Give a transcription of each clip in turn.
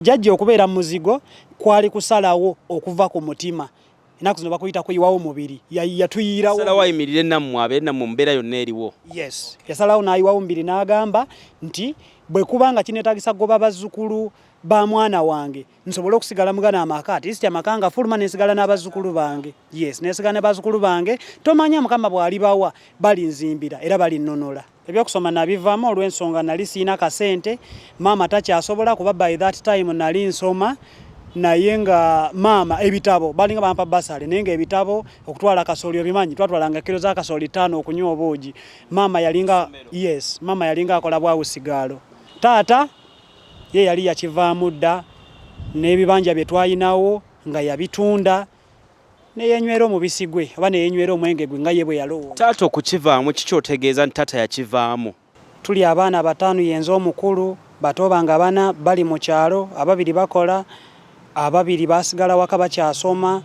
Jajja okubeera mu muzigo kwali kusalawo okuva ku mutima enaku zino bakuyita kuyiwawo mubiri yatuyiirawosalawo ayimirire nammwe abeere nammwe mubeera yonna eriwo yes yasalawo n'ayiwawo mubiri n'agamba nti bwe kuba nga kinetagisa goba bazzukulu ba mwana wange nsobole okusigala mugana amaka ati isiti amaka nga fuluma nesigala n'abazzukulu bange yes nesigala ne bazzukulu bange tomanya mukama bw'alibawa balinzimbira era balinnunula ebyokusoma nabivamu olwensonga nali sirina kasente maama takyasobola kuba by that time nali nsoma naye nga maama ebitabo balinga bampa basale naye nga ebitabo okutwala kasooli obimanyi twatwalanga kiro za kasooli ttaano okunywa obuugi maama yalinga yes maama yalinga akola bwawusigaalo taata ye yali yakivaamu dda n'ebibanja bye twalinawo nga yabitunda neyenywera omubisi gwe oba neyenywera omwenge gwe nga ye bwe yalowooza. Taata okukivaamu kiki otegeeza nti taata yakivaamu? Tuli abaana bataano yenze omukulu, bato bange abana bali mu kyalo, ababiri bakola, ababiri baasigala waka bakyasoma,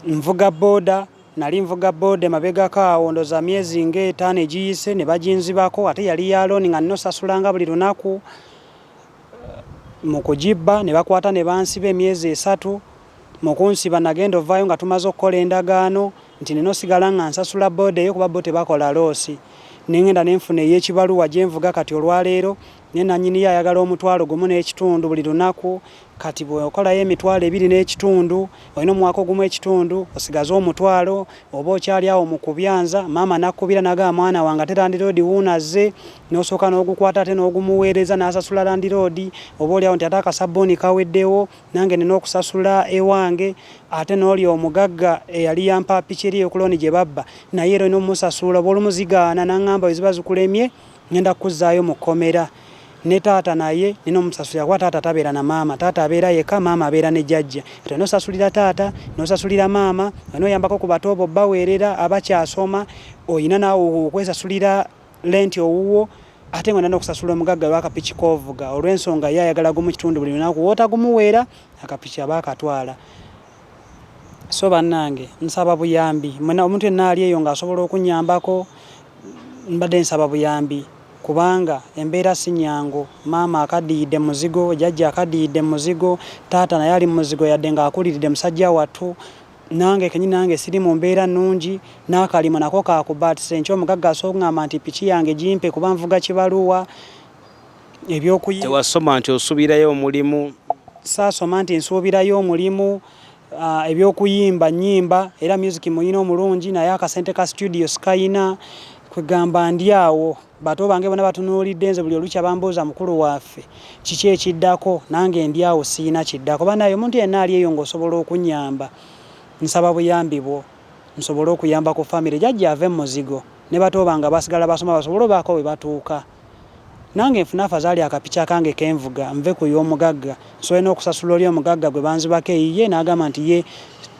nvuga boda, nali nvuga boda emabegako awo ndoza myezi nga etaano egiyise ne baginzibako ate yali ya looni nga nina osasulanga buli lunaku, mu kugibba ne bakwata ne bansiba emyezi esatu mu kunsiba nagenda ovaayo nga tumaze okukola endagaano nti nina osigala nga nsasula booda eyo kuba bo tebakola loosi ne ngenda ne nfuna ey'ekibaluwa gye nvuga kati olwaleero naye nannyiniyo ayagala omutwalo gumu n'ekitundu buli lunaku kati bw'okolayo emitwalo ebiri n'ekitundu olina omwaka ogumu ekitundu osigaze omutwalo oba okyali awo mu kubyanza maama n'akkubira naga mwana wange ate landiroodi wuuno azze n'osooka n'ogukwata ate n'ogumuweereza n'asasula landiroodi oba oliawo nti ate akasabbuuni kaweddewo nange nina okusasula ewange ate n'oli omugagga eyali yampa piki eri eyokulooni gye babba naye era olina omusasuula oba olumuzigaana n'aŋŋamba bwe ziba zikulemye ngenda kukuzzaayo mu kkomera ne taata naye nina omusasulira kuba taata tabeera na maama taata abeera yeka maama abeera ne jajja ate nosasulira taata nosasulira maama anoyambako ku bato obo baweerera abakyasoma oyina naawe okwesasulira lenti owuwo ate nga nana okusasula omugagga lwakapiki kovuga olw'ensonga ye ayagala gumu kitundu buli lunaku wootagumuweera akapiki aba akatwala so bannange nsaba buyambi mwena omuntu yenna ali eyo ng'asobola okunyambako mbadde nsaba buyambi kubanga embeera si nyangu maama akadiyidde muzigo jajja akadiyidde muzigo taata naye ali muzigo yadde ng'akuliridde musajja wattu nange kenyi nange siri mu mbeera nnungi n'akalimo nako kaakuba ati senki omugagga asongamba nti piki yange gimpe kuba nvuga kibaluwa ebyokuyi tewasoma nti osuubirayo omulimu saasoma nti nsuubirayo omulimu ah, ebyokuyimba nyimba era music muyina omulungi naye akasente ka studio sikayina kwegamba ndi awo bato bange bona batunuulidde nze buli olukya bambuuza mukulu waffe kiki ekiddako nange ndi awo siyina kiddako banaye omuntu yenna ali eyo ng'osobola okunyamba nsaba buyambi bwo nsobole okuyamba ku famire jajja ave mu muzigo ne bato bange basigala basoma basobole obaako we batuuka nange nfune afazaali akapica kange kenvuga nve ku y'omugagga Nsobye n'okusasula oli omugagga gwe banzibako eyiye n'agamba nti ye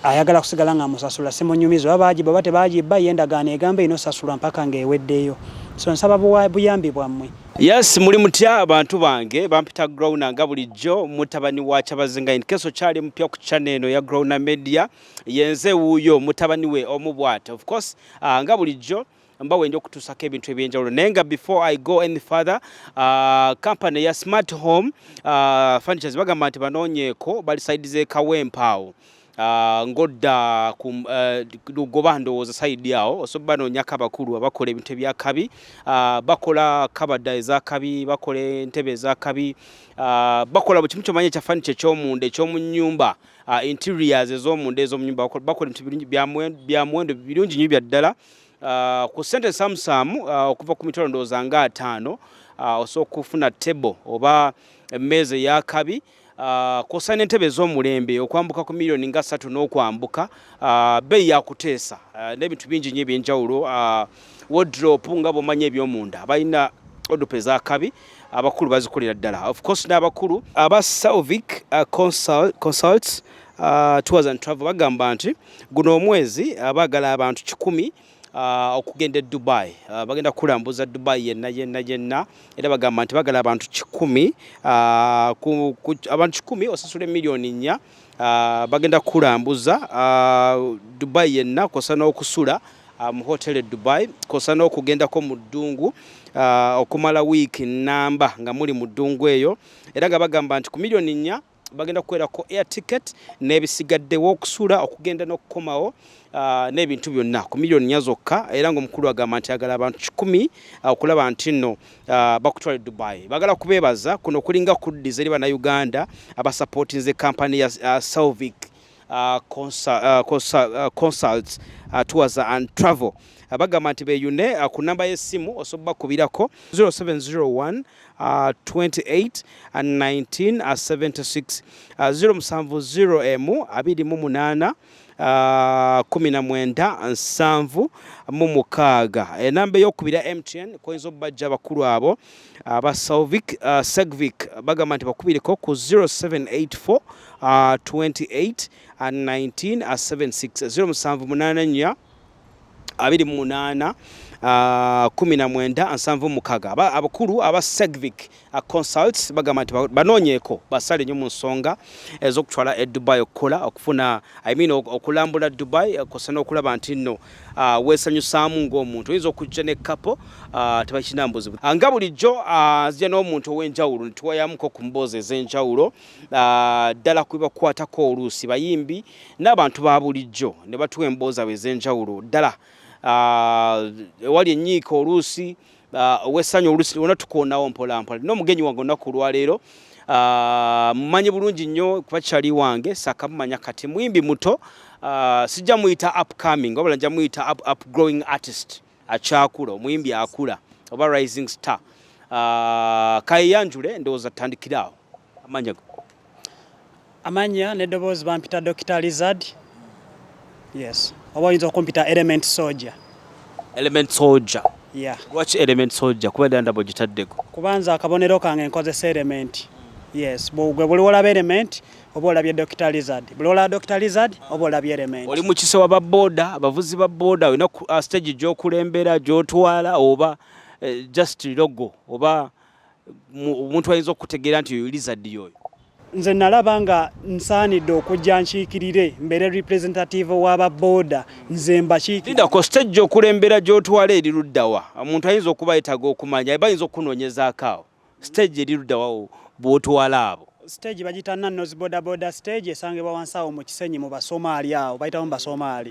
ayagala kusigala nga musasula simunyumiza oba baagibba oba tebaagibba ye endagaano egamba erina osasulwa mpaka ng'eweddeyo so nsaba buyambi bwammwe yes muli mutya abantu bange bampita growna nga bulijjo mutabani wa kyabazinga in case okyali mupya ku channel eno ya growna media yenze wuuyo mutabani we omu bwati of course uh, nga bulijjo mba wenja okutuusako ebintu ebyenjawulo naye nga before i go any further uh, company ya smart home uh, furnitures bagamba nti banoonyeeko bali saidi z'ekawempaawo Ah, ngodda ku eh, lugoba ndowooza sayidi awo osobola banoonyako abakulu abakola ebintu ebyakabi ah, bakola kabada ezakabi bakola entebe ezakabi ah, bakola buli kimu kyomanyi ekya fanicha ekyomunda ekyomunyumba interiors ezomunda ezomuyumba bakola ebintu bya muwendo birungi nyo bya ddala Uh, ku sente samusaamu uh, okuva ku mitwalo ndowooza nga ataano uh, osooka okufuna table oba emmeeza eyakabi uh, kwosa n'entebe ez'omulembe okwambuka ku miliyoni nga ssatu n'okwambuka uh, beeyi yakuteesa uh, n'ebintu bingi nyo ebyenjawulo uh, wodrop nga bwomanya ebyomunda balina odupa ezakabi abakulu bazikolera ddala of course n'abakulu aba salvic uh, consults uh, tours and travel bagamba nti guno omwezi ah, baagala abantu kikumi uh, okugenda e Dubai uh, bagenda kulambuza Dubai yenna yenna yenna era bagamba nti bagala abantu kikumi uh, ku, ku, abantu kikumi osasule milioni nnya uh, bagenda kulambuza uh, Dubai yenna kosa n'okusula uh, mu hotel e Dubai kosa n'okugendako mu ddungu uh, okumala wiiki nnamba nga muli mu ddungu eyo era nga bagamba nti ku milioni nnya bagenda kukolerako air ticket n'ebisigaddewo okusula okugenda n'okukomawo ah, n'ebintu byonna ku miliyoni nya zokka era ng'omukulu agamba nti agala abantu kikumi ah, okulaba nti nno ah, bakutwala e dubai bagala kubeebaza kuno okulinga kuddiza eri bannayuganda abasapootinze kampani ya salvic uh, consult, uh, consult, uh, consults uh, tours and travel uh, bagamba nti beyune uh, ku namba y'essimu osobola kubirako 0701 uh, 28 and 19 uh, 76 uh, 070 emu abiri mu munaana uh, kumi na mwenda nsanvu mu mukaaga enamba eyokubira mtn koyinza obubajja abakulu abo aba Salvic uh, Segvic bagamba nti bakubireko ku 0784 28 19 76 0784 abiri mu munaana Ah, kumi na mwenda nsanvu mukaga abakulu aba Segvic ah, Consults bagamba nti banoonyeeko basale nnyo mu nsonga ez'okutwala eh, e eh, Dubai okukola okufuna I mean okulambula Dubai eh, kw'ossa n'okulaba nti nno Ah, weesanyusaamu ng'omuntu oyinza okujja ne kapo ah, tebakina mbuzi ah, nga bulijjo azija n'omuntu ow'enjawulo netuwayamuko ku mboozi ez'enjawulo ddala ku bibakwatako oluusi bayimbi n'abantu ba bulijjo ne batuwa emboozi abo ez'enjawulo ddala ewali ennyiika oluusi uh, owessanyu olusi lwona tukonawo mpolampola no omugenyi wange olunaku olwaleero uh, mumanyi bulungi nnyo kuba kyali wange sakamumanya kati mwimbi muto uh, sijja muyita upcoming wabula nja muyita up, up growing artist akyakula omuyimbi akula oba rising star uh, kayeyanjule ndowooza tutandikire awo amanya Amannya n'eddoboozi bampita Dokita Lizard. Yes. Oba oyinza okumpita Element Soldier. Element Soldier. Yeah. Lwaki Element Soldier? Kuba era ndaba ogitaddeko. Kuba nze akabonero kange nkozesa Element. Yes. Gwe buli olaba Element oba olabye Dokita Lizard. Buli olaba Dokita Lizard oba olabye Element. Oli mu kise wa baboda, abavuzi ba boda, olina uh, stage gy'okulembera gy'otwala oba eh, just logo oba omuntu ayinza okutegeera nti oyo lizard yoyo nze nalaba nga nsaanidde okujja nkiikirire mbeere representative w'aba booda nze mbakiikirira ku stage okulembera gy'otwala eri luddawa omuntu ayinza okuba yetaga okumanya aba ayinza okukunoonyezaako awo stage eri luddawa bw'otwala abo stage bagita nannos boda boda stage esangibwa wansi awo mu kisenyi mu basomaali awo bayitawo mu basomaali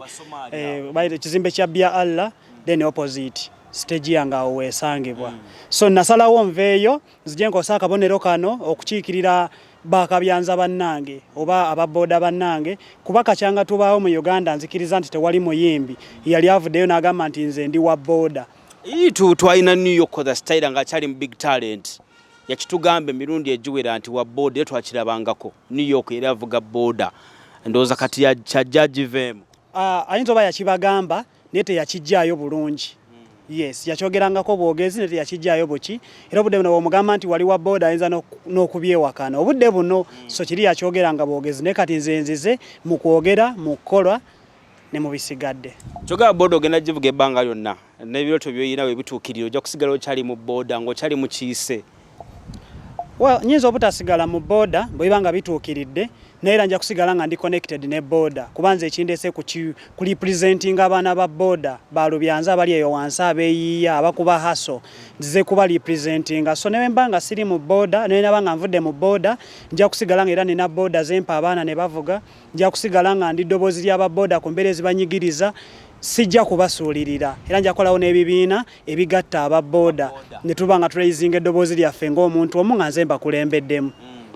eh, ekizimbe kya bya allah then opposite siteegi yange awo weesangibwa mm. so nasalawo nveeyo nzije nkozesa akabonero kano okukiikirira bakabyanza bannange oba ababooda bannange kuba kakyanga tubaawo mu uganda nzikiriza nti tewali muyimbi yali avuddeyo n'agamba nti nze ndi wa booda itu twalina new york the style nga akyali mu big talent yakitugamba emirundi egiwera nti wa booda era twakirabangako new york era avuga booda ndowooza kati kyajja giveemu ah, ayinza oba yakibagamba naye teyakijjaayo bulungi yes yakyogerangako bwogezi naye teyakijjaayo buki era obudde buno bwomugamba nti wali wa booda ayinza n'okubyewakana obudde buno mm. so kiri yakyogeranga bwogezi naye kati nze nzize mu kwogera mu kukola ne mu bisigadde kyogera booda ogenda givuga ebbanga lyonna n'ebirooto by'olina we bituukirira ojja kusigala okyali mu booda ng'okyali mu kiise Well, nyinza obutasigala mu boda bweba nga bituukiridde naye era nja kusigala nga ndi connected ne boda kuba nze ekindeese ku representinga abaana ba boda ba lubyanza abali eyo wansi abeeyiiya abakuba haso nzize kuba representinga so newe mba nga siri mu boda naye naba nga nvudde mu boda nja kusigala nga era nina boda zempa abaana ne bavuga nja kusigala nga ndi ddoboozi ly'aba boda ku mbeera ezibanyigiriza sijja kubasuulirira era nja kukolawo n'ebibiina ebigatta aba boda ne tuba nga turayizinga eddoboozi lyaffe ng'omuntu omu nga nze mbakulembeddemu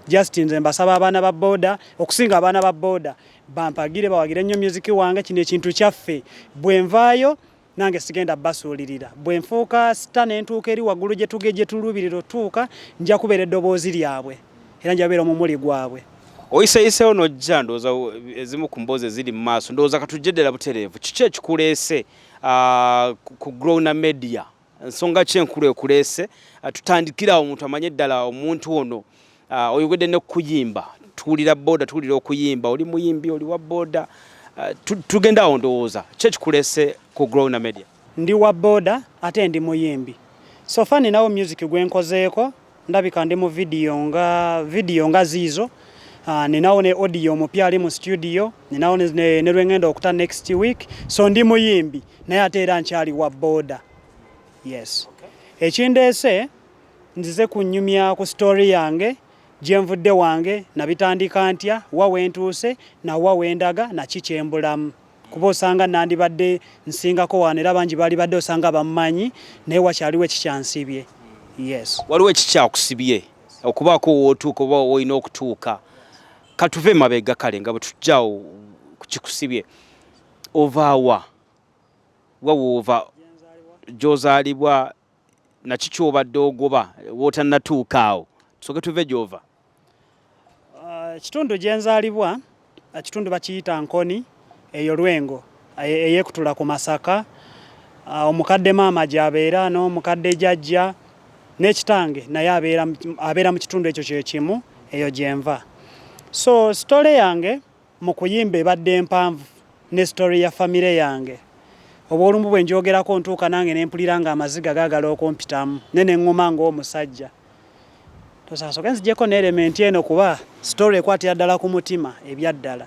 just nze mbasaba abaana ba boda okusinga abaana ba boda bampagire bawagire nnyo music wange kino ekintu kyaffe bwe nvaayo nange sigenda basuulirira bwe nfuuka sita ne ntuuka eri waggulu gye tuge gye tuluubirira otuuka nja kubeera eddoboozi lyabwe era nja kubeera omumuli gwabwe oyiseyisewo nojja ndowooza ezimu ku mboozi eziri mu maaso ndowooza katujje ddala butereevu kiki ekikuleese uh, ku Growna Media nsonga ki enkulu ekuleese uh, tutandikirawo omuntu amanye ddala omuntu ono uh, oyogedde ne kuyimba tuwulira boda tuwulira okuyimba oli muyimbi oli wa boda uh, tugenda awo ndowooza ki ekikuleese ku Growna Media ndi wa boda ate ndi muyimbi sofa ninawo music gwenkozeeko ndabika ndi mu video nga video nga ziizo ah, ninawo ne audio omupya ali mu studio ninawo ne lwengenda okuta next week so ndi muyimbi naye ate era nkyali wa boda yes ekindeese nzize kunyumya ku story yange gyenvudde wange nabitandika ntya wa wentuuse nawa wendaga naki kyembulamu kuba osanga nandibadde nsingako wano era bangi bali badde osanga bammanyi naye wakyaliwo ekikyansibye yes waliwo ekikyakusibye okubaako wootuuka oba wolina okutuuka katuve emabega kale nga bwetujjawo kukikusibye ovaawa wawoova gyozaalibwa naki kyobadde ogoba wotanatuuka awo tusoke tuve gyova ah, ekitundu uh, gyenzaalibwa ekitundu bakiyita nkoni eyo lwengo eyekutula ku masaka ah, omukadde maama gyabeera n'omukadde jajja n'ekitange naye abeera mu kitundu ekyo kyekimu eyo gyenva so sitole yange Mu kuyimba ebadde mpanvu ne story ya family yange. Obwolumu bwe njogerako ntuuka nange ne mpulira nga amaziga gagala okumpitamu ne ne nguma nga omusajja. Tosasoke nzijeko ne element eno kuba story ekwatira ddala ku mutima ebyaddala.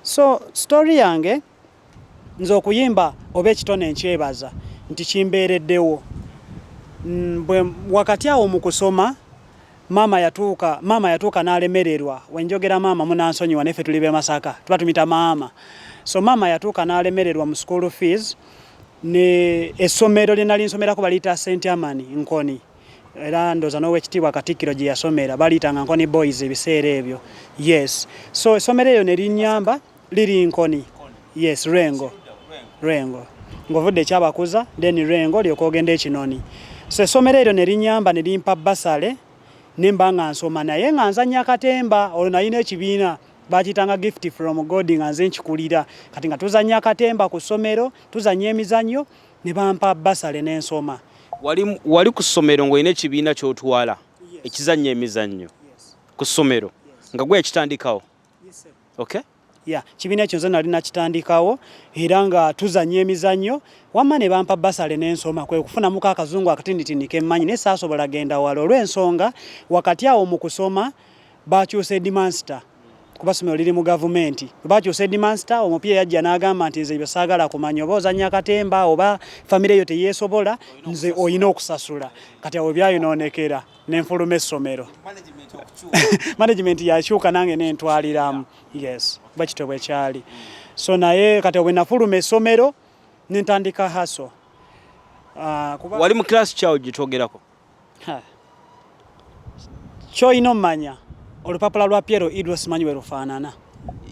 So story yange Nze okuyimba oba ekitone nkyebaza nti kimbeereddewo mm, bwe wakati awo mu kusoma maama yatuuka maama yatuuka n'alemererwa wenjogera maama munansonyiwa neffe tuli be Masaka tuba tumita maama so maama yatuuka n'alemererwa mu school fees ne essomero lye nali nsomerako baliyita St Amani Nkoni era ndoza n'owekitiibwa Katikkiro gye yasomera baliyitanga Nkoni Boys ebiseera ebyo yes so essomero eyo ne linnyamba liri nkoni yes lwengo lwengo ngovudde ekyabakuza then lwengo lyoka ogenda ekinoni so esomero eryo ne linyamba ne limpa basale nemba nga nsoma naye nga nzanya katemba olwo nalina ekibiina bakiyitanga gift from god nga nze nkikulira kati nga tuzanya katemba ku ssomero tuzanya emizanyo ne bampa basale n'ensoma wali, wali ku ssomero ng'olina ekibiina ky'otwala yes. ekizannya emizannyo yes. ku ssomero yes. nga gwe yakitandikawo okay ya kibiina ekyo nze nali nakitandikawo era nga tuzanya emizannyo wamma ne bampa basale n'ensoma kwe kufunamuko akazungu akatinitini kemmanyi naye saasobola genda wala olw'ensonga wakati awo mu kusoma bakyusa edimansta kuba somero liri mu gavumenti bakyusa edimansta omupiira yajja n'agamba nti nze ebyo saagala kumanya oba ozanya katemba oba famire eyo teyeesobola nze olina okusasula kati awo byayonoonekera nenfuluma essomero management yakyuka nange nentwaliramu yes bakitwe bwekyali so naye kati wenafuluma essomero nentandika haso ah, wali mu class kyawo gyetwogerako kyoyina omumanya olupapula lwa piero idro simanyi bwe lufaanana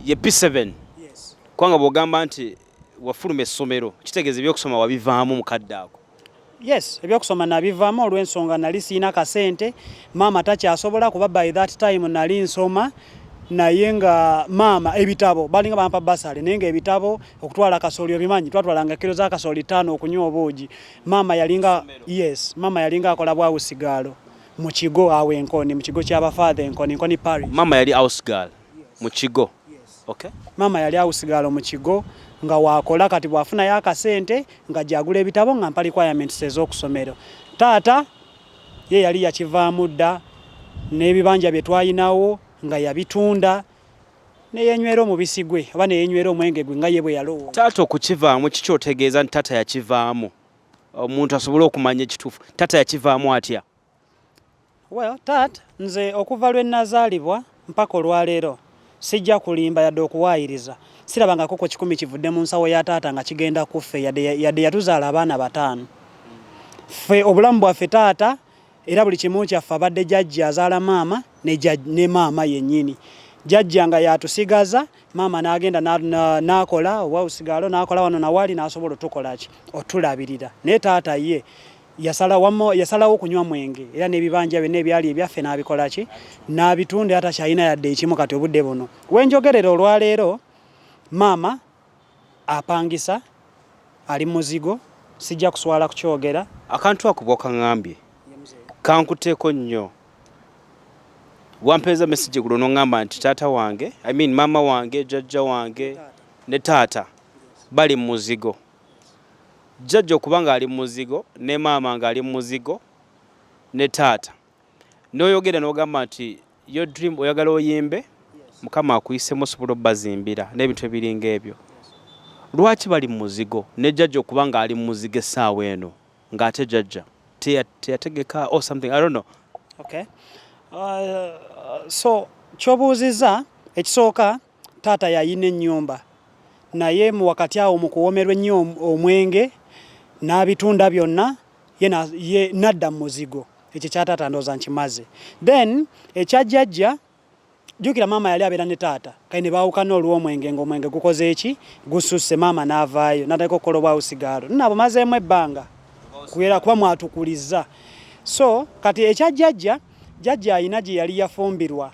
ye p7 kubanga bwogamba nti wafuluma essomero kitegeeza ebyokusoma wabivaamu mukadde ako Yes, ebyokusoma nabivaamu olw'ensonga nali sirina kasente, maama takyasobola kuba by that time nali nsoma naye nga maama ebitabo balinga bampa basale naye nga ebitabo okutwala kasooli obimanyi twatwalanga kiro za kasooli ttaano okunywa obuugi maama yalinga yes maama yalinga akola bwa usigaalo mu kigo awo enkoni mu kigo ky'abafaatha enkoni enkoni parish maama yali house girl mu kigo Okay. Maama yali awusigaalo mu kigo nga waakola kati bwafunayo akasente nga gyagula ebitabo nga mpali kwayamentisa ez'okusomero taata ye yali yakivaamu dda n'ebibanja bye twalinawo nga yabitunda neyenywera omubisi gwe oba neyenywera omwenge gwe nga ye bwe yalowooza taata okukivaamu kiki otegeeza nti taata yakivaamu omuntu asobole okumanya ekituufu taata yakivaamu atya Well, tat nze okuva lwe nazaalibwa mpaka olwaleero sijja kulimba yadde okuwaayiriza sirabangako ku kikumi kivudde mu nsawo ya taata nga kigenda kuffe yadde yatuzaala abaana bataano ffe obulamu bwaffe taata era buli kimu kyaffe abadde jajja azaala maama ne maama yennyini jajja nga yatusigaza maama n'agenda n'akola oba usigaalo n'akola wano nawaali n'asobola otukolaki otulabirira naye taata ye yasalawo okunywa mwenge era n'ebibanja byonna ebyali ebyaffe n'abikola ki n'abitunda era takyalina yadde ekimu kati obudde buno wenjogerera olwaleero maama apangisa ali muzigo sijja kuswala kukyogera akantu akuba okaŋambye kankuteeko nnyo wampeeza mesigi gulo noŋamba nti taata wange I mean maama wange jajja wange ne taata bali muzigo Jjajja okuba ng'ali mu muzigo, ne maama ng'ali mu muzigo, ne taata. N'oyogera n'ogamba nti your dream oyagala oyimbe, Mukama akuyisemu osobola obazimbira n'ebintu ebiringa ebyo. Lwaki bali mu muzigo? Ne jjajja okuba ng'ali mu muzigo essaawa eno ng'ate jjajja teyategeka or something, I don't know. Okay. Uh, so kyobuuzizza ekisooka Taata yayina ennyumba naye mu wakati awo mu kuwomerwa ennyo omwenge n'abitunda byonna ye nadda mu muzigo. Ekyo ekya taata ndowooza nkimaze. Then ekya jjajja jjukira maama yali abeera ne taata kale ne baawukana olw'omwenge ng'omwenge gukoze eki gususse maama n'avaayo n'atandika okukola obwawusigaalo nno abumazeemu ebbanga kuera kuba mwatukulizza so kati ekya jjajja jjajja alina gye yali yafumbirwa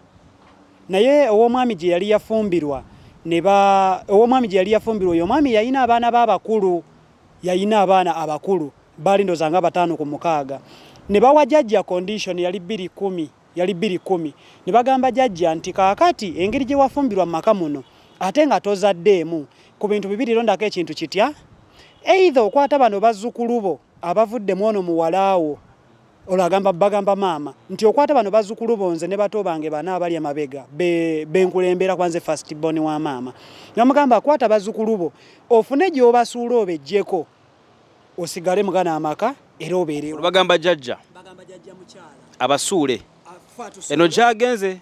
naye ow'omwami gye yali yafumbirwa ne ba ow'omwami gye yali yafumbirwa oyo omwami yalina abaana be abakulu yalina abaana abakulu baali ndoza nga bataano ku mukaaga ne bawa jajja condition yali bbiri kkumi yali bbiri kkumi ne bagamba jajja nti kaakati engeri gye wafumbirwa mu maka muno ate nga tozaddeemu ku bintu bibiri londako ekintu kitya eitha okwata bano bazzukulu bo abavudde mu ono muwalaawo Olwo agamba bagamba maama nti okwata bano bazukulu bonze ne bato bange bana abali amabega benkulembera be kwanze first born wa maama namugamba akwata bazukulu bo ofune gy'obasuula obejjeko osigale mugana amaka era obeerewo bagamba jajja abasuule eno gyagenze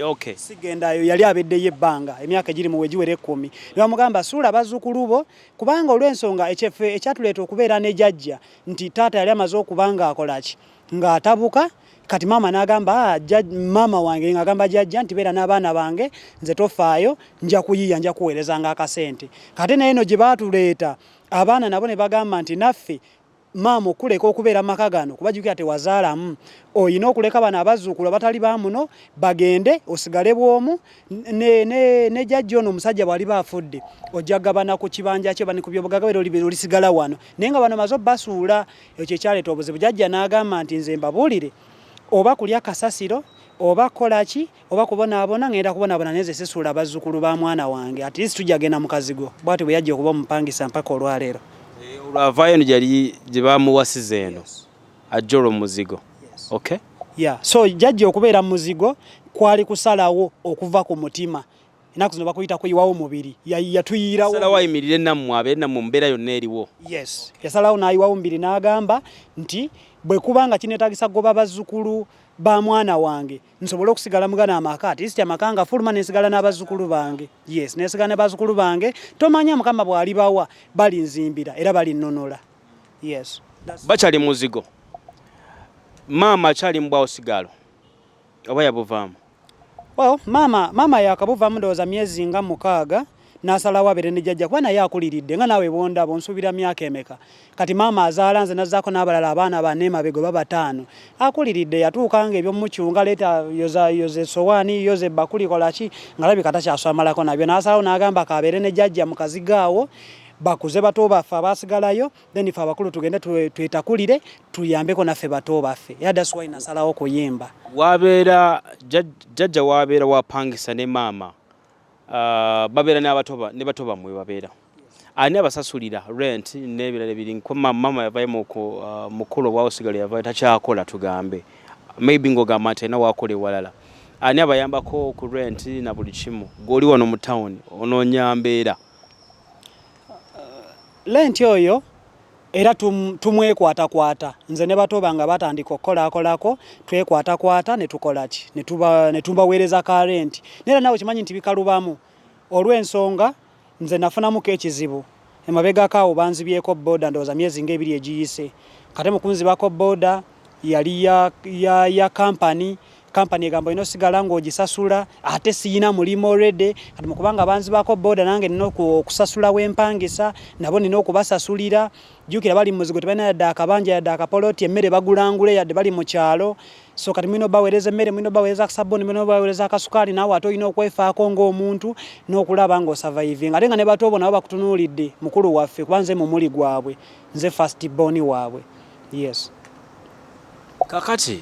okay. sigendayo yali abeddeyo ebbanga emyaka egiri mu wegiwera ekkumi ne bamugamba suula bazzukulu bo kubanga olw'ensonga ekyefe ekyatuleeta okubeera ne jajja nti taata yali amaze okuba ng'akolaki ng'atabuka kati maama n'agamba ah, maama wange ng'agamba jajja nti beera n'abaana bange nze tofaayo nja kuyiya nja kuweerezanga akasente kate naye no gye baatuleeta abaana nabo ne bagamba nti naffe maama okuleka okubeera mu maka gano kuba jukira tewazaalamu olina okuleka bano abazuukulu abatali bamuno bagende osigale bwomu ne jajja ono omusajja bwaliba afudde ojja gabana ku kibanja kye bani ku byobugaga bero olisigala wano naye nga bano maze basuula ekyo kyekyaleeta obuzibu jajja n'agamba nti nze mbabuulire oba kulya kasasiro oba kolaki oba kubonaabona ngenda kubonaabona naye nze sisuula bazzukulu ba mwana wange at least tujja genda mukazigo bwati bwe yajja okuba omupangisa mpaka olwaleero eh, olwavaayo no gyali gye bamuwasiza eno ajja olwo muzigo okay yeah so jajja okubeera muzigo kwali kusalawo okuva ku mutima enaku zino bakuyita kuyiwawo mubiri yatuyiirawo yasalawo ayimirire nammwe abeere nammwe mubeera yonna eriwo yes yasalawo n'ayiwawo mubiri n'agamba nti bwe kuba nga kinetagisa goba bazzukulu ba mwana wange nsobole okusigala mugana amaka at least amaka nga fuluma nesigala n'abazzukulu bange yes nesigala ne bazzukulu bange tomanya mukama bw'alibawa balinzimbira era balinnonola yes bakyali muzigo maama akyali mubwawo sigalo oba yabuvaamu well maama maama yakabuvaamu ndowooza myezi nga mukaaga nasalawo abere ne jajja kuba naye akuliridde nga nawe bondaba onsubira myaka emeka kati maama azaala nze nazaako n'abalala abaana bane emabega oba bataano akuliridde yatuuka nga ebyomukyunga leeta yoza esowaani yoza ebbakuli kola ki nga labika takyasamalako nabyo nasalawo n'agamba kabeere ne jajja mu kazigo awo bakuze bato baffe abasigalayo then fe abakulu tugende twetakulire tuyambeko naffe bato baffe era that's why nasalawo kuyimba wabeera jajja wabeera wapangisa ne maama uh, babeera n'abatoba ne bato bammwe babeera ani abasasulira rent n'ebirala ebiri mama yavayo uh, mukulu owaosigala yavayo takyakola tugambe maybe ng'ogamba nti alina wakola ewalala ani abayambako ku rent na buli kimu gweoli wano mu town onoonya mbeera lenti oyo era tumwekwatakwata nze ne bato bange batandika okukolaakolako twekwatakwata ne tukola ki ne tubaweereza ka renti naye era nawe kimanyi nti bikalubamu olw'ensonga nze nafunamuko ekizibu emabegako awo banzibyeko boda ndowooza myezi nga ebiri egiyise kate mukunzibako boda yali ya, ya, ya kampani kampani egamba olina osigala ng'ogisasula ate siyina mulimu already kati mukubanga banzibako boda nange nina okusasula wempangisa nabo nina okubasasulira jukira bali muzigo tebalina yadde akabanja yadde akapoloti emmere bagulangula yadde bali mu kyalo so kati mulina obaweereza emmere mulina obaweereza akasabuni mulina obaweereza akasukaali naawe ate olina okwefaako ng'omuntu n'okulaba nga osavaivinga ate nga ne batoobo nabo bakutunuulidde mukulu waffe kuba nze mumuli gwabwe nze fast boni waabwe yes kakati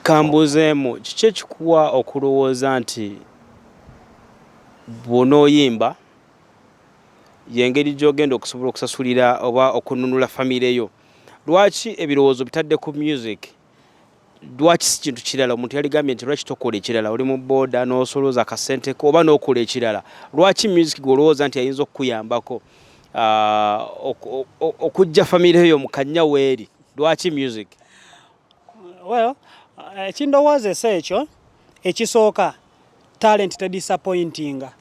kambuuzeemu kiki ekikuwa okulowooza nti bw'onooyimba yengeri gy'ogenda okusobola okusasulira oba okununula famire yo lwaki ebirowoozo bitadde ku music lwaki si kintu kirala omuntu yaligambye nti lwaki tokola ekirala oli mu booda n'osolooza akasenteko oba n'okola ekirala lwaki music gwe olowooza nti ayinza okukuyambako ah, okujja famire eyo mu kannya weeri lwaki music well eh, ekindowoozesa ekyo ekisooka talenti tedisappointinga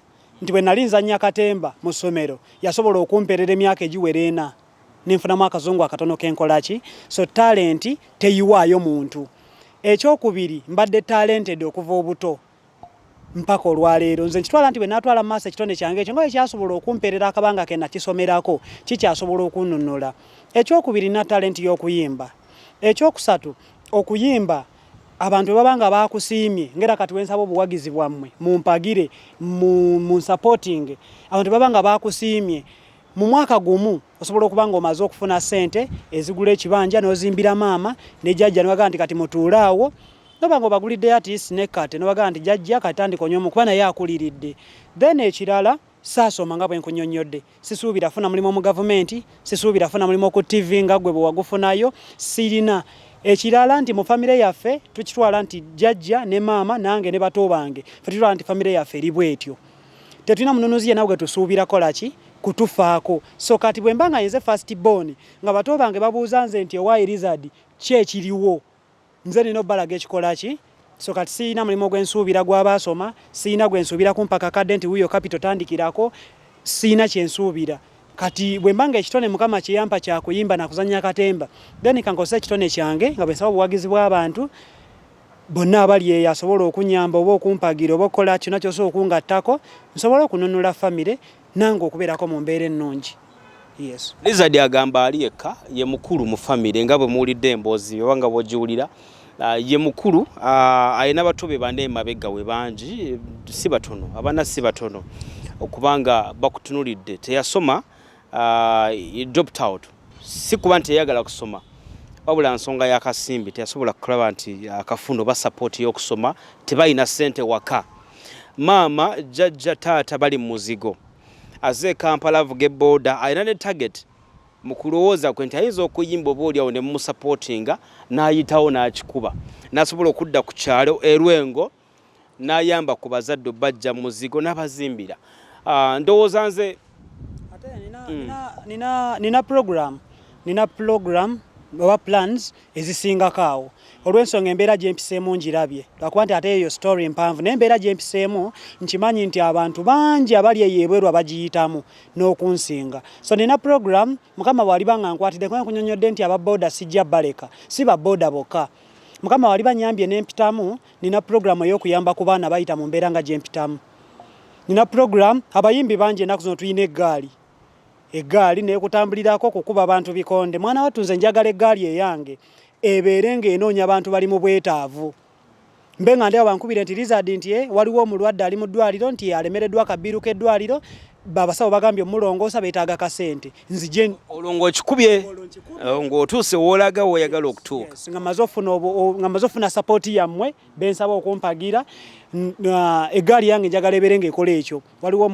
nti bwe nali nzannya katemba mu ssomero yasobola okumperera emyaka egiwera ena nenfunamu akazungu akatono kenkolaki so talent teyiwaayo muntu ekyokubiri mbadde talented okuva obuto mpaka olwaleero nze nkitwala nti bwenatwala mumaaso ekitone kyange ekyo nga ekyasobola okumperera akabanga ke nakisomerako kikyasobola okununula ekyokubiri na talenti y'okuyimba ekyokusatu okuyimba abantu bwebaba nga bakusiimye ngera kati wensaba obuwagizi bwammwe mumpagire mu, mu supporting abantu bwebaba nga bakusiimye mu mwaka gumu osobola okuba nga omaze okufuna sente ezigula ekibanja n'ozimbira maama ne jajja niwagaa nti kati mutuule awo noba nga obaguliddeyo ati snekate nobagaa nti jajja katandika onyomu kuba naye akuliridde then ekirala saasoma nga bwe nkunyonnyodde sisuubira funa mulimu mu gavumenti sisuubira funa mulimu ku tv nga gwe bwe wagufunayo sirina ekirala nti mu famire yaffe tukitwala nti jajja ne maama nange ne bato bange fe tutwala nti famire yaffe eri bwetyo tetulina mununuzi yenna gwe tusuubira kola ki kutufaako so kati bwe mba nga yenze first born nga bato bange babuuza nze nti owa erizard ki ekiriwo nze nina obbalaga ekikola ki so kati siyina mulimu gwensuubira gwabaasoma siyina gwensuubira kumpa kakadde nti wuyo kapito tandikirako siyina kyensuubira kati bwe mba nga ekitone mukama kyeyampa kyakuyimba nakuzannya katemba then kankozesa ekitone kyange nga bwensaba obuwagizi bw'abantu bonna abali eyo asobola okunyamba oba okumpagira oba okukola kyona kyosobola okungattako nsobole okununula famire nange okubeerako mu mbeera ennungi yes. Lizard agamba ali yekka ye mukulu mu famire nga bwe muwulidde emboozi oba nga bwogiwulira ah, ye mukulu ah, alina bato be bana emabega we bangi si batono abana si batono okubanga bakutunulidde teyasoma Ah, dropped out si kuba nti teyagala kusoma wabula nsonga yakasimbi teyasobola kulaba nti akafunda oba sapooti y'okusoma tebalina sente waka maama jajja taata bali mu muzigo aze ekampala avuga ebooda alina ne target mu kulowooza kwe nti ayinza okuyimba oba oliawo ne mumusapootinga n'ayitawo n'akikuba n'asobola okudda ku kyalo erwengo n'ayamba ku bazadde obbajja mu muzigo n'abazimbira ah, ndowooza nze hmm. nina program nina program oba plans ezisingako awo olw'ensonga embeera gyempiseemu ngirabye lwakuba nti ate eyo story mpanvu naye embeera gyempiseemu nkimanyi nti abantu bangi abali eyo ebwerwa bagiyitamu n'okunsinga so nina program mukama waliba nga nkwatidde kuba nkunyonyodde nti aba boda sijja baleka si ba boda bokka mukama wali banyambye nempitamu Nina pulogulaamu ey'okuyamba ku baana bayita mu mbeera nga gye mpitamu. Nina pulogulaamu abayimbi bangi ennaku zino tulina eggaali eggaali neekutambulirako kukuba bantu bikonde. Mwana wattu nze njagala eggaali eyange ebeere ng'enoonya abantu bali mu bwetaavu mbe nga ndewa bankubire nti lizard nti eh, waliwo omulwadde ali mu ddwaliro nti alemereddwa akabiiru k'eddwaliro babasawo bagambye omulongoosa beetaaga kasente nzije olwo ng'okikubye oh, ng'otuuse woolaga woyagala okutuuka nga maze ofuna sapooti yammwe bensaba okumpagira uh, eggaali yange njagala ebeere ng'ekola ekyo waliwo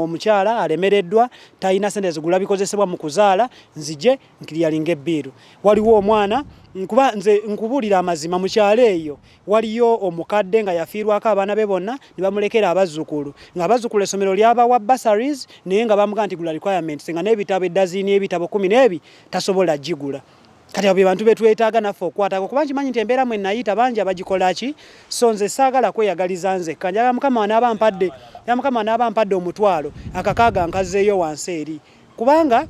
omukyala alemereddwa talina sente zigula bikozesebwa mu kuzaala nzije nkiriyalinga ebbiiru waliwo omwana nkuba nze nkubuulira amazima mu kyalo eyo waliyo omukadde nga yafiirwako abaana be bonna ne bamulekera abazzukulu ng'abazzukulu essomero lyabawa basaries naye nga bamuga nti gula requirements nga n'ebitabo eddaziini ebitabo kumi n'ebi tasobola gigula kati abo bebantu betwetaaga naffe okukwatako kuba nkimanyi nti embeera mwe nayita bangi abagikola ki so nze saagala kweyagaliza nzekka njagala mukama wanaaba mpadde ya mukama wanaaba mpadde omutwalo akakaaga nkazeeyo wansi eri kubanga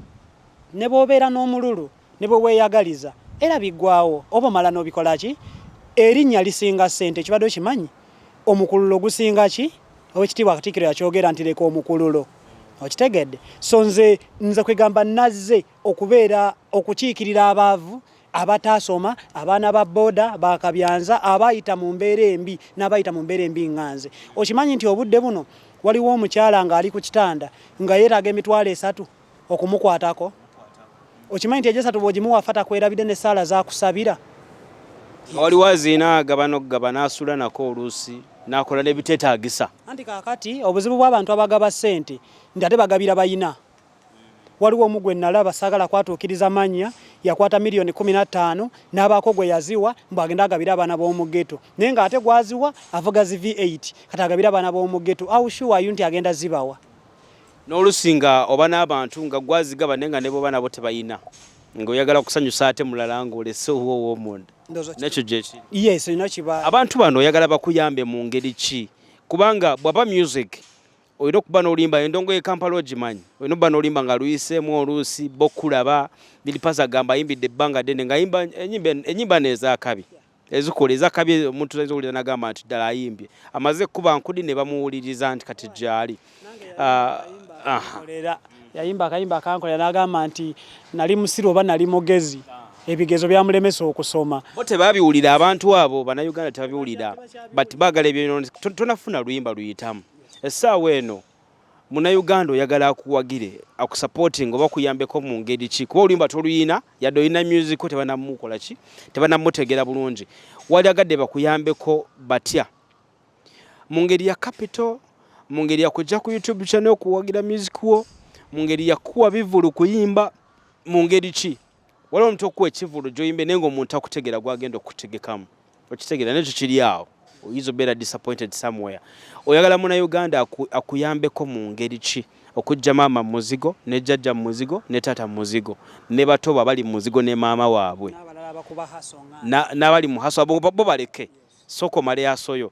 ne bwobeera n'omululu ne bwe weeyagaliza era biggwawo oba omala n'obikola ki erinnya lisinga ssente kibadde okimanyi omukululo gusinga ki owekitiibwa katikkiro yakyogera nti leka omukululo okitegedde so nze nze kwegamba nazze okubeera okukiikirira abaavu abataasoma abaana ba boda bakabyanza abayita mu mbeera embi n'abayita mu mbeera embi nganze okimanyi nti obudde buno waliwo omukyala ng'ali ku kitanda nga yeetaaga emitwalo esatu okumukwatako okimanyi nti egyesatu bwogimuwa fata kwerabidde ne saala zakusabira nga waliwo aziina agaba nokugaba nasula nako oluusi nakola nebitetagisa anti kakati obuzibu bwabantu abagaba sente nti ate bagabira bayina waliwo omu gwe nalaba saagala kwatuukiriza mannya yakwata miliyoni kumi na ttaano n'abaako gwe yaziwa mbu agenda agabira abaana b'omu geto naye ng'ate gwaziwa avuga zi v8 kati agabira abaana b'omu geto awushuwayu nti agenda zibawa n'olusi nga oba n'abantu nga gwazigaba naye nga ne bwoba nabo tebalina ng'oyagala kusanyusa ate mulala ng'olese owuwo ow'omunda nekyo gyekiri yes olina kiba abantu bano oyagala bakuyambe mu ngeri ki kubanga bwaba music olina okuba n'olimba endongo ye kampala ogimanyi olina okuba n'olimba nga luyiseemu oluusi bokulaba liripaza gamba ayimbidde ebbanga ddene ng'ayimba enyimba neezakabi ezikola ezakabi omuntu ayinza owulira nagamba nti ddala ayimbye amaze kukuba nkudi ne bamuwuliriza nti kati gyali ah, yayimba akayimba akankolera nagamba nti nali musiru oba nali mugezi ebigezo byamulemesa okusoma bo tebabiwulira abantu abo banauganda tebabiwulira but bagala ebyo tonafuna luyimba luyitamu essaawa eno Munnayuganda oyagala akuwagire, akusapootinge oba akuyambeko mu ngeri ki? Kuba oluyimba toluyina yadde olina myuziki we tebanamukola ki, tebanamutegeera bulungi. Wandyagadde bakuyambeko batya? Mu ngeri ya kapito, mu ngeri ya kujja ku YouTube channel okuwagira myuziki wo, mu ngeri ya kukuwa bivvulu kuyimba, mu ngeri ki? waliwo omuntu okuwa ekivulu gyoyimbe naye ngaomuntu akutegera gwagenda okutegekamu okitegera nekyo kiri awo oyinza obeera disappointed somewhere oyagala muna uganda akuyambeko mu ngeri ki okujja maama muzigo ne jjajja muzigo ne taata muzigo ne batoba bali muzigo ne maama waabwe n'abali muhaso bo baleke sooka omaleyasoyo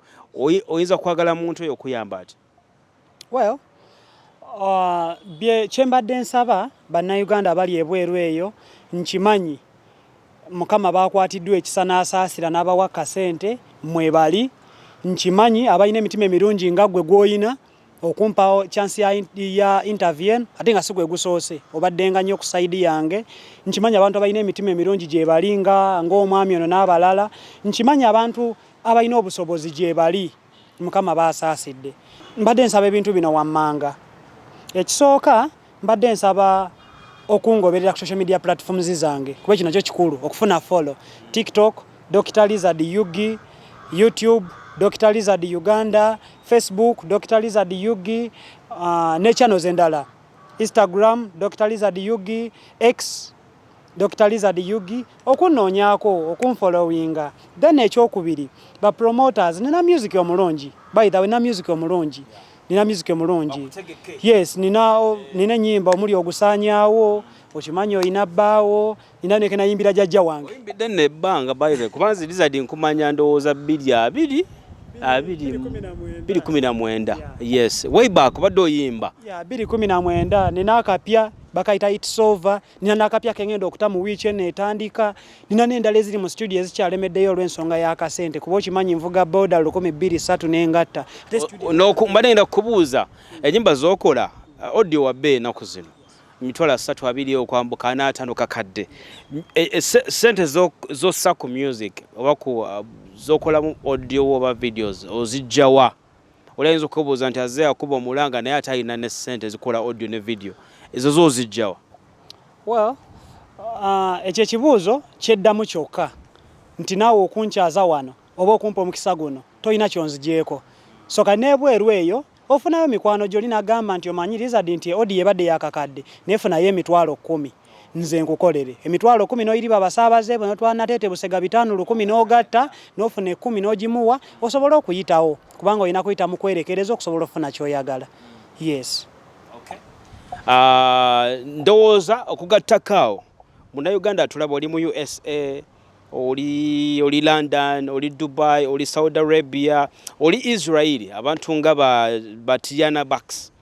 oyinza kwagala muntu oyo okuyamba ati Well, uh, bye kyembadde nsaba bannayuganda abali ebweru eyo nkimanyi mukama baakwatiddwa ekisa n'asaasira n'abawa kasente mwebali nkimanyi abalina emitima emirungi nga ggwe gw'olina okumpawo chance ya, ya interview ate nga sigwe gusoose obaddenga nnyo ku sayidi yange nkimanyi abantu abalina emitima emirungi gyebali nga ng'omwami ono n'abalala nkimanyi abantu abalina obusobozi gyebali mukama baasaasidde mbadde nsaba ebintu bino wammanga ekisooka mbadde nsaba okungoberera ku social media platforms zange kuba kino kyo kikulu okufuna follow tiktok dr lizard ug youtube dr lizard uganda facebook dr lizard ug uh, ne channels endala instagram dr lizard ug x Dr. Lizard Yugi okunnoonyaako okunfolowinga then ekyokubiri ba promoters nina music omulungi by the way na music omulungi nina music omulungi yes nina nina ennyimba omuli ogusaanyaawo okimanyi olina bbaawo nina neke nayimbira jajja wange oyimbidde nno ebbanga bayibe kuba nze lizadi nkumanya ndowooza bbiri abiri abiri bbiri kumi na mwenda yes wayback obadde oyimba bbiri kumi na mwenda nina akapya bakayita itsova nina nakapya kengenda okuta mu wiiki eno etandika nina n'endala eziri mu situdio ezikyalemeddeyo olw'ensonga y'akasente kuba okimanyi nvuga boda lukumi bbiri ssatu n'engatta mba nenda kukubuuza enyimba zokola uh, odio wabba enaku zino mitwalo asatu abiri okwambuka anaatano kakadde e, e, sente zossa ku music oba ku uh, zokolamu odio oba videos ozijjawa Oli ayinza okubuuza nti azze akuba omulanga naye ate alina ne ssente ezikola audio ne video ezo zo ozijjawa? Well, uh, ekyo ekibuuzo kyeddamu kyokka nti naawe okunkyaza wano oba okumpa omukisa guno tolina kyonzigyeko so kati n'ebweru eyo ofunayo mikwano gyoli nagamba nti omanyi lizard nti odi yebadde yakakadde nefunayo emitwalo kkumi nze nkukolere emitwalo kumi noyiriba abasaabaze bwe notwanatete busega bitaano lukumi n'ogatta n'ofuna ekkumi n'ogimuwa osobole okuyitawo kubanga olina kuyita mu kwerekereza okusobola okufuna kyoyagala yes ah, ndowooza okugattako awo munauganda atulaba oli mu usa oli oli london oli dubai oli saudi arabia oli israeli abantu nga batiana baks ba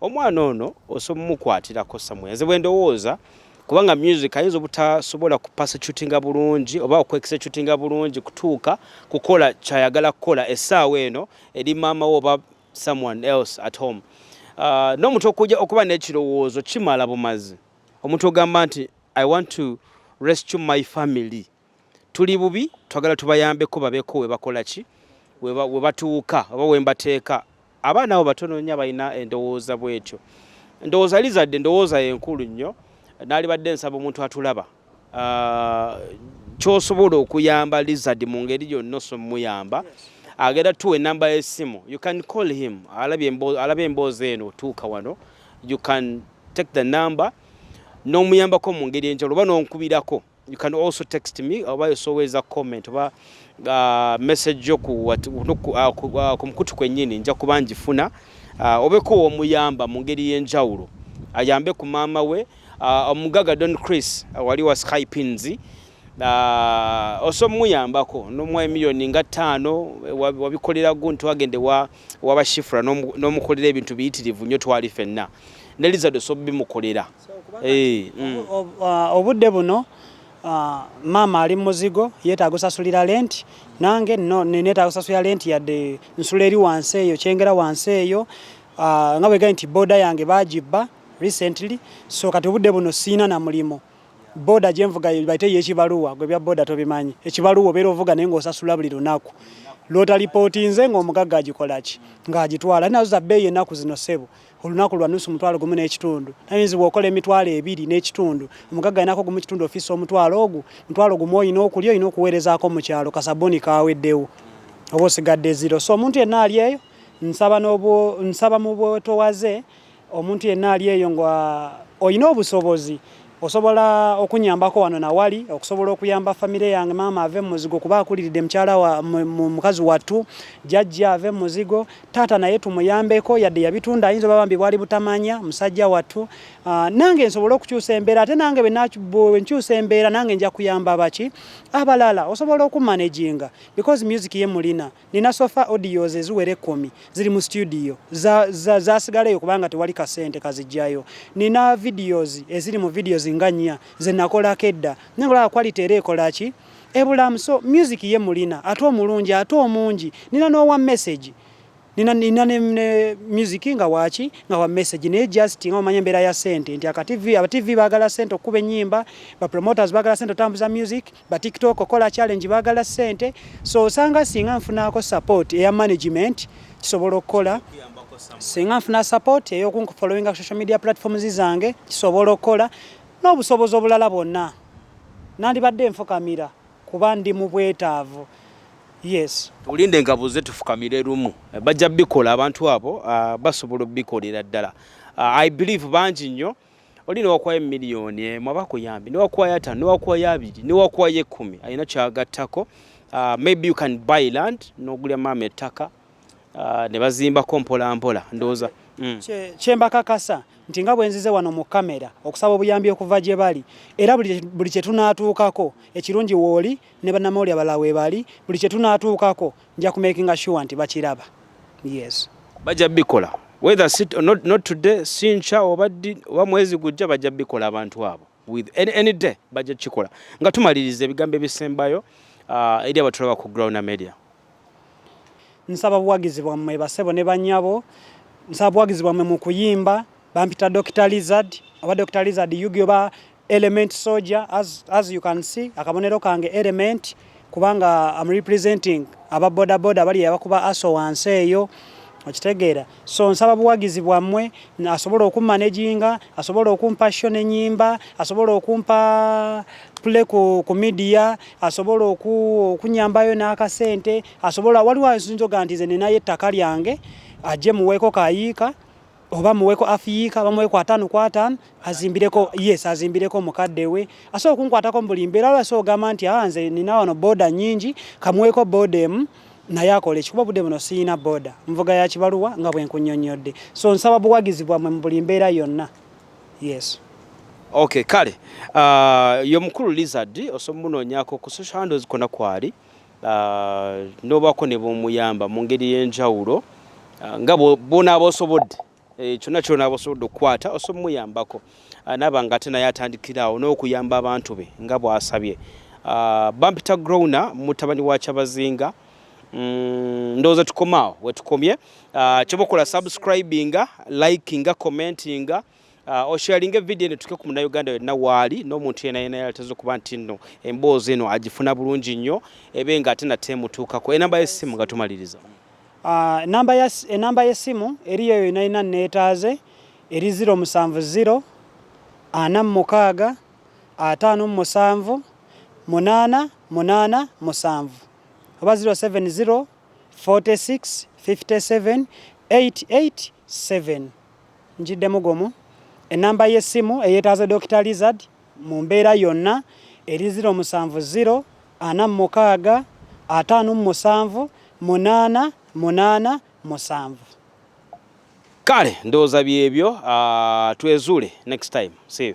omwana ono osobola omukwatirako samwe nze bwe ndowooza kubanga music ayinza obutasobola kupasecutinga bulungi oba okuexecutinga bulungi kutuuka kukola kyayagala kukola essaawa eno eri maama we oba someone else at home uh, n'omuntu okuja okuba n'ekirowoozo kimala bumazi omuntu ogamba nti i want to rescue my family tuli bubi twagala tubayambeko babeko webakolaki webatuuka oba wembateeka abaana abo batono nnyo abalina endowooza bwetyo ndowooza lizadde ndowooza yenkulu nnyo naalibadde nsaba omuntu atulaba ah, kyosobola okuyamba lizard mu ngeri yonna osomuyamba agenda tuwa enamba y'essimu you can call him alaba emboozi eno otuuka wano you can take the number n'omuyambako mu ngeri enjawulo oba n'onkubirako You can also text me oba yosoweza comment oba uh, message yo ku, uh, ku, uh, ku, uh, ku mkutu kwenyini nja kuba njifuna uh, obeko omuyamba mu ngeri y'enjawulo ayambe ku maama we uh, omugaga Don Chris uh, wali wa Skypinzi uh, oso muyambako nomwa emiliyoni nga ttaano wabikolera gu nti wagende wa wabashifura n'omukolera ebintu biyitirivu nnyo twali fenna ne Lizard oso bimukolera Mm. Uh, obudde buno uh, maama ali muzigo yetaaga osasulira lenti nange netaaga osasulira lenti yadde nsula eri wansi eyo kyengera wansi eyo uh, nga bwegai nti boda yange bagibba recently so kati obudde buno siina na mulimu boda gyenvuga baite yekibaluwa gwe bya boda tobimanyi ekibaluwa obeera ovuga naye ngaosasula buli lunaku lwotalipooti nze ngaomugagga agikolaki ngaagitwala nazo za bbeeyi ennaku zino sebo olunaku lwa nusu mutwalo gumu n'ekitundu nayinzi bwokola emitwalo ebiri n'ekitundu omugagga ayinako gumu kitundu ofiisi omutwalo ogwo mutwalo gumu olina okulya olina okuweerezaako mu kyalo kasabuni kaweddewo oba osigadde eziro so omuntu yenna ali eyo nsaba nsaba mu bwetowaze omuntu yenna ali eyo nga olina obusobozi osobola okunyambako wano nawali okusobola okuyamba famire yange maama ave muzigo kuba akuliridde mukyala wa mukazi wattu jajja ave muzigo taata naye tumuyambeko yadde yabitunda ayinza oba bambi bwali butamanya musajja wattu ah, nange nsobola okukyusa embeera ate nange bwenkyusa embeera nange nja kuyamba baki abalala osobola okumanejinga because music ye mulina Nina sofa audios eziwera ekumi ziri mu studio zasigala eyo kubanga tewali kasente kazijjayo. Nina videos eziri mu videos nga nnya ze nakolako edda naye ng'olaba quality era ekola ki ebulamu. So music ye mulina ate omulungi ate omungi. Nina n'owa message nina nina ne music nga waaki nga wa message naye just nga omanya embeera ya sente nti aka TV aba TV baagala sente okukuba ennyimba ba promoters baagala sente otambuza music ba tiktok kola challenge bagala sente so osanga singa nfunaako support eya management kisobola okukola singa nfuna support eyokunkufollowinga social media platforms zange kisobola okukola n'obusobozi obulala bwonna nandibadde enfukamira kuba ndi mu bwetaavu yes tulinde nga buze tufukamire lumu bajja bikola abantu abo ah, basobola obikolera ddala ah, i believe bangi nnyo oli newakuwayo miliyoni emu aba akuyambye newakuwayo ataano newakuwayo abiri newakuwayo ekkumi alina kyagattako uh, maybe you can buy land nogulya maama ettaka uh, ne bazimbako mpolampola ndowooza mm. kyembakakasa nti nga bwenzize wano mu kamera okusaba obuyambi okuva gye bali era buli kye tunaatuukako ekirungi wooli ne bannamawuli abalala we bali buli kye tunaatuukako nja ku making sure nti bakiraba yes bajja bikola whether sit or not, not today sincha oba oba mwezi gujja bajja bikola abantu abo with any, any day bajja kikola nga tumaliriza ebigambo ebisembayo uh, eri abatulaba ku ground media nsaba buwagizi bwammwe basebo ne banyabo nsaba buwagizi bwammwe mu kuyimba bampita dr lizard oba dr lizard yugi oba Element soldier as, as you can see akabonero kange element kubanga am representing aba boda boda bali abakuba aso wansi eyo okitegeera so nsaba buwagizi bwammwe asobola okumaneginga asobola okumpa sho nenyimba asobola okumpa pule ku, ku midiya asobola okunyambayo n'akasente asobola waliwo ayinza oga nti ze ninayo ettaka lyange ajje muweeko kayiika oba muweko afiyiika oba muweko ataano ku ataano azimbireko yes azimbireko mukadde we asobola okunkwatako mu buli mbeera asobola ogamba nti aa ah, nze nina wano booda nyingi kamuweko booda emu naye akola ekikuba obudde buno siyina booda nvuga ya kibaluwa nga bwe nkunyonnyodde so nsaba buwagizi bwammwe mu buli mbeera yonna yes okay kale uh, yo mukulu lizard osobola munonyako ku social handles kona kwali n'obaako ne b'omuyamba mu ngeri y'enjawulo nga bwonaaba osobodde eh, kyonna kyonaaba osobodde okukwata osobola omuyambako naaba nga ate naye atandikiraawo n'okuyamba abantu be nga bw'asabye bampita growna mutabani wa kyabazinga Mm, ndowooza tukomaawo wetukomye ah, kyobakola subscribinga likinga commentinga Uh, osharinge video eno tuke ku munauganda yonna waali n'omuntu yena yena yalataza okuba nti nno emboozi eno agifuna bulungi nnyo ebe nga ate nate emutuukako enamba y'essimu nga tumaliriza uh, enamba y'essimu eriyo yona yina neetaaze eri 0 musanvu 0 ana mu mukaaga ataano mu musanvu munaana munaana musanvu oba 070 46 57 887 Njiddemu gumu. Ennamba y'essimu eyeetaaze Dokita Lizard mu mbeera yonna eri 070 ana mu mukaaga ataano mu musanvu munaana munaana musanvu. Kale ndowooza byebyo, ah, twezuule next time. See you.